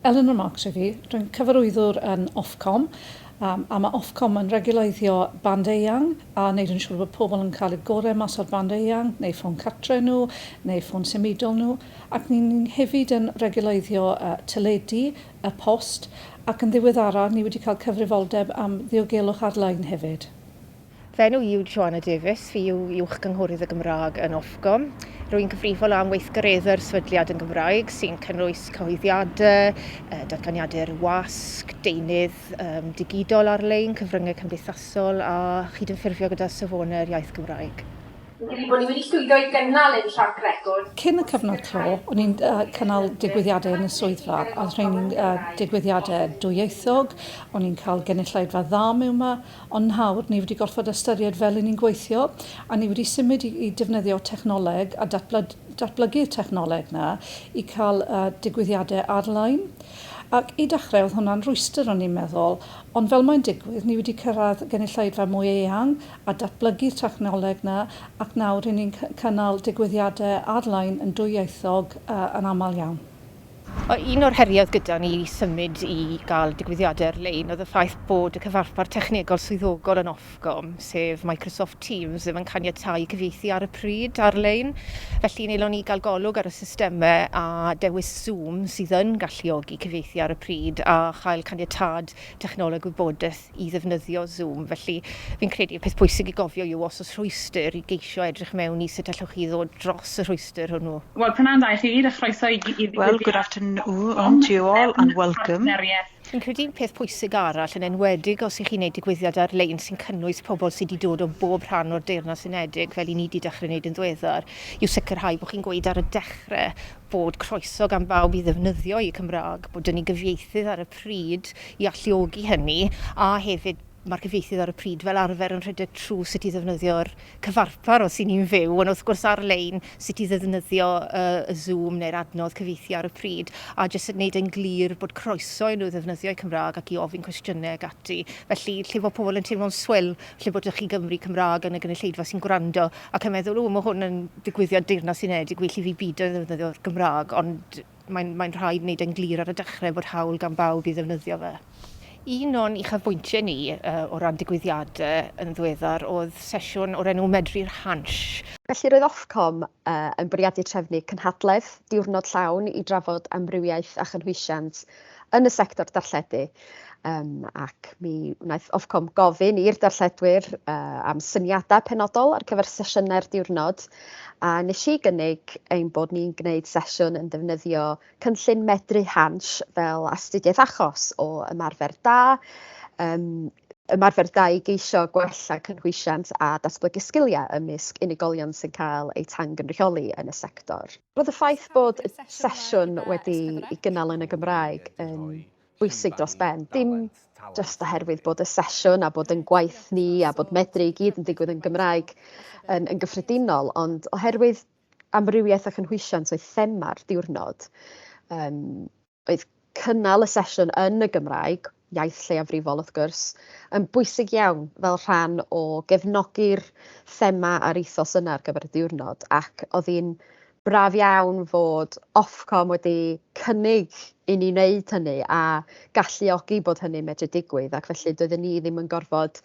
Eleanor Marks yw hi. Rwy'n cyfarwyddwr yn Ofcom, a mae Ofcom yn rhegiwleiddio band eang a wneud yn siŵr bod pobl yn cael y gorau mas o'r band eang, neu ffôn cartre nhw, neu ffôn symudol nhw, ac ni ni'n hefyd yn rhegiwleiddio teledu, y post, ac yn ddiweddaraf ni wedi cael cyfrifoldeb am ddiogelwch ar-lein hefyd. Fy enw i yw Joanna Davies, fi yw Uwch-gynghorydd y Gymraeg yn Ofcom. Rwy'n cyfrifol am weithgareddau'r sefydliad yn Gymraeg, sy'n cynnwys cyhoeddiadau, datganiadau'r wasg, deunydd digidol ar-lein, cyfryngau cymdeithasol a chydymffurfio gyda safonau'r iaith Gymraeg. Fi'n credu bod ni wedi llwyddo i gynnal ein trac record. Cyn y cyfnod clo, o'n i'n cynnal digwyddiadau yn y swyddfa, a oedd rheini'n digwyddiadau dwyieithog, o'n i'n cael gynulleidfa dda mewn 'ma, Ond nawr, ni wedi gorfod ystyried fel y'n ni'n gweithio, a ni wedi symud i i defnyddio technoleg a datbla- datblygu'r technoleg 'na i cael y digwyddiadau ar-lein. Ac i dechrau oedd hwnna'n rwystr o'n i'n meddwl, ond fel mae'n digwydd, ni wedi cyrraedd gynulleidfa mwy eang a datblygu'r technoleg 'na, ac nawr ry'n ni'n cy- cynnal digwyddiadau ar-lein yn dwyieithog yy yn aml iawn. Un o'r heriau oedd gyda ni i symud i gael digwyddiadau ar-lein oedd y ffaith bod y cyfarpar technegol swyddogol yn Ofcom, sef Microsoft Teams, ddim yn caniatáu cyfieithu ar y pryd ar-lein. Felly, nelon ni gael golwg ar y systemau a dewis Zoom sydd yn galluogi cyfieithu ar y pryd a chael caniatâd technoleg wybodaeth i ddefnyddio Zoom. Felly, fi'n credu y peth pwysig i gofio yw os oes rhwystr i geisio edrych mewn i sut allwch chi ddod dros y rhwystr hwnnw. Wel, p'nawn da i chi, a chroeso i i Well, good afternoon to you all and welcome. Fi'n credu un peth pwysig arall, yn enwedig os 'y chi'n neud digwyddiad ar-lein sy'n cynnwys pobl sy' 'di dod o bob rhan o'r Deyrnas Unedig, fel 'yn ni 'di dechre neud yn ddiweddar, yw sicrhau bo' chi'n gweud ar y dechre bod croeso gan bawb i ddefnyddio'u Cymraeg, bod 'da ni gyfieithydd ar y pryd i alluogi hynny, a hefyd mae'r cyfieithydd ar y pryd fel arfer yn rhedeg trwy sut i ddefnyddio'r cyfarpar os 'y ni'n fyw, ond wrth gwrs ar-lein, sut i ddefnyddio y Zoom neu'r adnodd cyfieithu ar y pryd, a jyst yn gwneud e'n glir bod croeso i nhw ddefnyddio'u Cymraeg ac i ofyn cwestiynau ac ati. Felly, lle fo' pobl yn teimlo'n swil, siop lle bod 'da chi Gymry, Cymraeg yn y gynulleidfa sy'n gwrando ac yn meddwl, o, mae hwn yn digwyddiad Deyrnas Unedig, well i fi bido i ddefnyddio'r Gymraeg, ond mae'n mae rhaid wneud e'n glir ar y dechrau bod hawl gan bawb i ddefnyddio fe. Un o'n uchafbwyntiau ni uh, o ran digwyddiadau yn ddiweddar oedd sesiwn o'r enw Medru'r Hansh. Felly roedd Ofcom yn bwriadu trefnu cynhadledd diwrnod llawn i drafod amrywiaeth a chynhwysiant yn y sector darlledu, um, ac mi wnaeth Ofcom gofyn i'r darlledwyr uh, am syniadau penodol ar gyfer sesiynau'r diwrnod, a nes i gynnig ein bod ni'n gwneud sesiwn yn defnyddio cynllun medru Hans fel astudiaeth achos o ymarfer da, um, ymarfer da i geisio gwella cynhwysiant a datblygu sgiliau ymysg unigolion sy'n cael eu tangynrychioli yn y sector. Roedd y ffaith bod y sesiwn wedi'i gynnal yn y Gymraeg yn bwysig dros ben, dim jyst oherwydd bod y sesiwn a bod ein gwaith ni a bod Medru i gyd yn digwydd yn Gymraeg yn gyffredinol, ond oherwydd amrywiaeth a chynhwysiant oedd thema'r diwrnod. oedd cynnal y sesiwn yn y Gymraeg, iaith lleiafrifol wrth gwrs, yn bwysig iawn fel rhan o gefnogi'r thema a'r ethos yna ar gyfer y diwrnod, ac oedd hi'n braf iawn fod Ofcom wedi cynnig i ni wneud hynny a galluogi bod hynny'n medru digwydd ac felly doedden ni ddim yn gorfod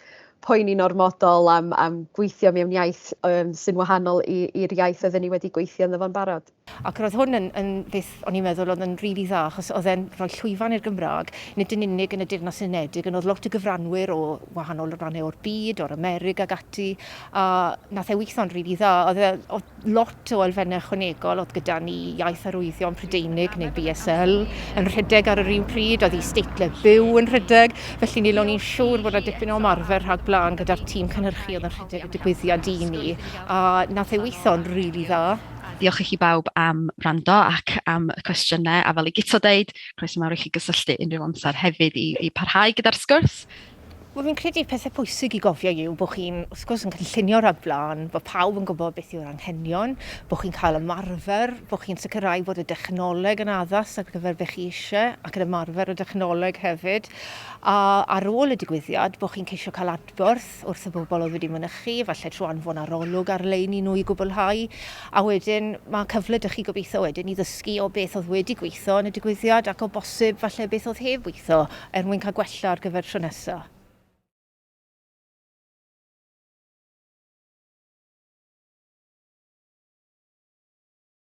poeni'n ormodol am, am gweithio mewn iaith um, sy'n wahanol i'r iaith oedden ni wedi gweithio yn ddofo'n barod. Ac roedd hwn yn, yn beth o'n i'n meddwl oedd yn rili dda achos oedd e'n rhoi llwyfan i'r Gymraeg, nid yn unig yn y Deyrnas Unedig, ond oedd lot o gyfranwyr o wahanol rannau o'r byd, o'r Amerig ac ati, a nath e weithio'n rili dda. Oedd e, oedd lot o elfennau ychwanegol, oedd gyda ni iaith arwyddion Prydeinig neu BSL yn rhedeg ar yr un pryd, oedd i steitlau byw yn rhedeg, felly ni lo'n i'n siŵr bod yna dipyn o ymarfer rhag blaen gyda'r tîm cynhyrchu oedd yn rhedeg y digwyddiad i ni, a nath e weithio'n rili dda. A diolch i chi bawb am wrando ac am y cwestiynau, a fel i Guto deud, croeso mawr i chi gysylltu unrhyw amser hefyd i, i parhau gyda'r sgwrs. Wel, fi'n credu'r pethau pwysig i gofio yw bod chi'n, wrth gwrs, yn cynllunio raglen, bod pawb yn gwybod beth yw'r anghenion, bod chi'n cael ymarfer, bod chi'n sicrhau bod y dechnoleg yn addas ar gyfer beth chi eisiau ac yn ymarfer y dechnoleg hefyd, a ar ôl y digwyddiad bod chi'n ceisio cael adborth gwaith wrth y bobl oedd wedi mynychu, falle trwy anfon arolwg ar-lein i nhw i gwblhau, a wedyn mae cyfle 'da chi gobeithio wedyn i ddysgu o beth oedd wedi gweithio yn y digwyddiad ac o bosib falle beth oedd heb weithio er mwyn cael gwella ar gyfer tro nesaf.